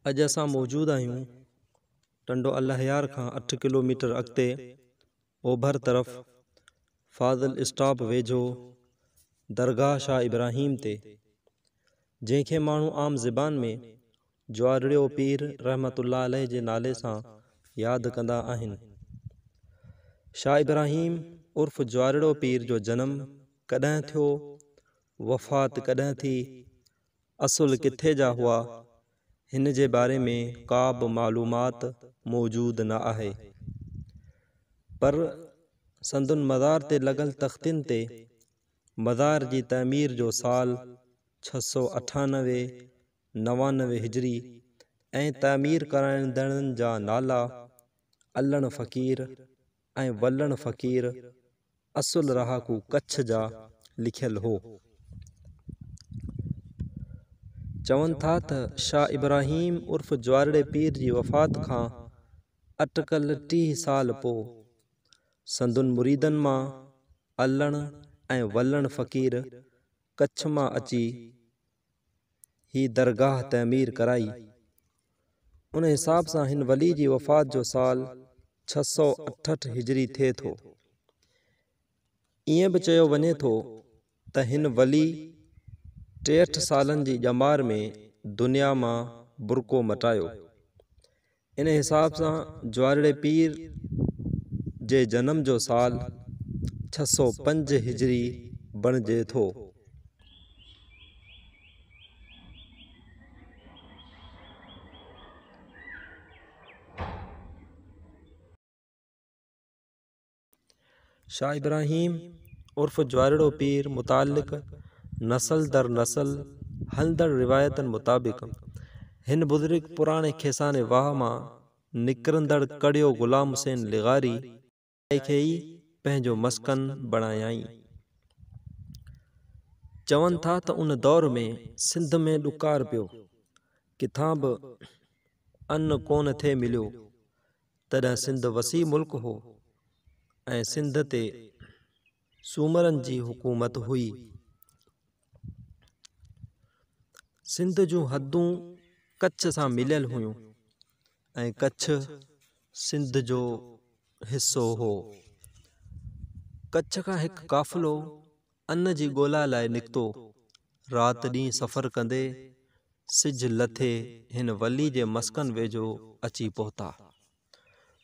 اڄ اسان موجود آهيون ٽنڊو الهيار کان اٺ ڪلوميٽر اڳتي اوڀر طرف فاضل اسٽاپ ويجهو درگاهه شاهه ابراهيم تي جنهن کي ماڻهو عام زبان ۾ جوارڙيو پير رحمة الله عليه جي نالي سان ياد ڪندا آهن. شاهه ابراهيم عرف جوارڙيو پير جو جنم ڪڏهن ٿيو، وفات ڪڏهن ٿي، اصل ڪٿي جا هئا، هن جي باري ۾ ڪا به معلومات موجود نه آهي. پر سندن مزار تي لڳل تختين تي مزار جي تعمير جو سال ڇهه سؤ اٺانوي نوانوي هجري ۽ تعمير ڪرائيندڙن جا نالا علڻ فقير ۽ ولڻ فقير اصل رهاڪو ڪڇ جا لکيل هو. چون ٿا ته شاهه ابراهيم عرف جوارڙي پير جي وفات کان اٽڪل ٽيهه سال پوء سندن مريدن مان علڻ ۽ ولڻ فقير ڪڇ مان اچي هي درگاهه تعمير ڪرائي. ان حساب سان هن ولي جي وفات جو سال ڇهه سؤ اٺهٺ هجري ٿئي ٿو. ائين به چيو وڃي ٿو ته هن ولي ٽيهٺ سالن جي ڄمار ۾ دنيا مان برقعو مٽايو. ان حساب سان جوارڙي پير جي جنم جو سال ڇهه سؤ پنج هجري بڻجي ٿو. شاهه ابراهيم عرف جوارڙو پير متعلق نسل در نسل هلندڙ روايتن مطابق هن بزرگ پراڻي کيساني واهه مان نڪرندڙ ڪڙيو غلام حسين لغاري جاء کي ئي پنهنجو مسڪن بڻايائين. چون ٿا ته ان دور ۾ سنڌ ۾ ڏڪار پيو، ڪٿان به ان ڪونه ٿي مليو، تڏهن سنڌ وسيع ملڪ هو ۽ سنڌ تي سومرن جي حڪومت هئي. سنڌ جون حدون ڪڇ سان مليل هيون ۽ ڪڇ سنڌ جو حصو هو. ڪڇ کان هڪ قافلو ان جي ڳولا لاء نڪتو. رات ڏينهن سفر ڪندي سج لٿي هن ولي جي مسڪن ويجهو اچي پهتا.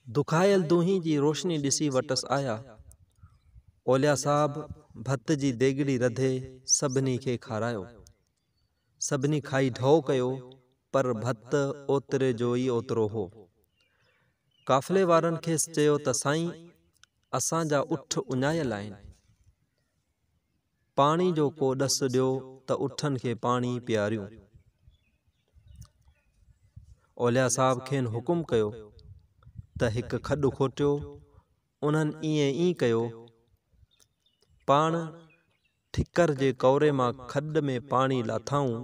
دکايل دونهين جي روشني ڏسي وٽس آيا. اوليا صاحب ڀت جي ديڳڙي رڌي سڀني کي کارايو. سڀني کائي ڍؤ ڪيو، پر ڀت اوتري جو ئي اوترو هو. قافلي وارن کيس چيو ته سائين اسان جا اٺ اڃايل آهن، پاڻي جو ڪو ڏس ڏيو ته اٺن کي پاڻي پياريون. اوليا صاحب کين حڪم ڪيو ته هڪ کڏ کوٽيو، انهن ائين ئي ڪيو، پاڻ ٺڪر جي ڪوري مان کڏ ۾ پاڻي لاٿائون،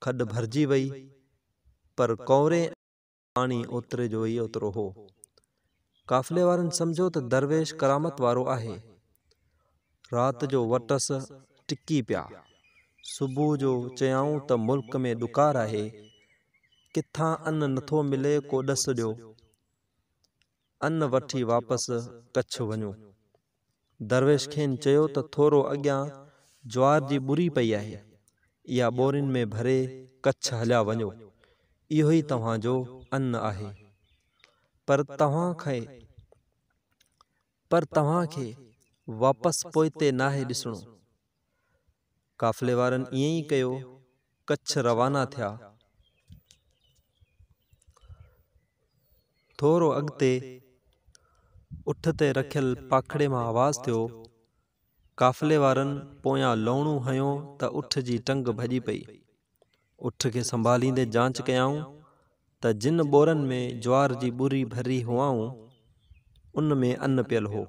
کڏ ڀرجي وئي، پر ڪوري ۽ پاڻي اوتري جو ئي اوترو هو. قافلي وارن سمجهيو ته درويش ڪرامت وارو آهي. رات جو وٽس ٽڪي پيا. صبح جو چيائون ته ملڪ ۾ ڏڪار آهي، ڪٿان ان نٿو ملي ڪو ڏس ڏيو، ان وٺي واپس ڪڇ وڃون. درويش کين چيو ته ٿورو اڳيان جوار جي ٻري پئي آهي، اها ٻورين ۾ ڀري ڪڇ هليا وڃو، اهو ئي توهان جو ان آهي. پر توهان کي پر توهان کي واپس پوئتي ناهي ڏسڻو. قافلي وارن ائين ئي ڪيو، ڪڇ روانا ٿيا. ٿورو اڳتي اٺ تي رکيل پاکڙي مان آواز ٿيو. قافلي وارن پويان لوڻو هنيو ته اٺ جي ٽنگ ڀڄي پئي. اٺ کي سنڀاليندي جانچ ڪيائون ته جن ٻورن ۾ جوار جي ٻري ڀري هئائون، ان ۾ ان پيل هو.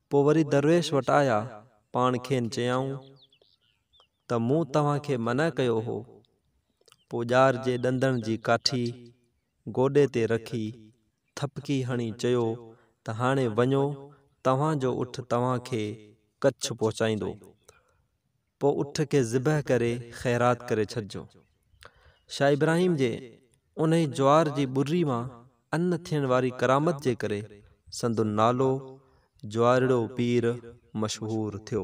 پوء وري درويش وٽ آيا، پاڻ کين چيائون ته مون توهان کي منع ڪيو هو. پوء ڄار جي ڏندڻ جي ڪاٺي گوڏي تي رکي، ٿڦڪي هڻي چيو ته هاڻي وڃو توهان جو اٺ توهان کي ڪڇ پهچائيندو. پوء اٺ کي ذبح ڪري خيرات ڪري ڇڏجو. شاهه ابراهيم جي انهي جوار جي ٻري مان ان ٿيڻ واري ڪرامت جي ڪري سندن نالو جوارڙو پير مشهور ٿيو.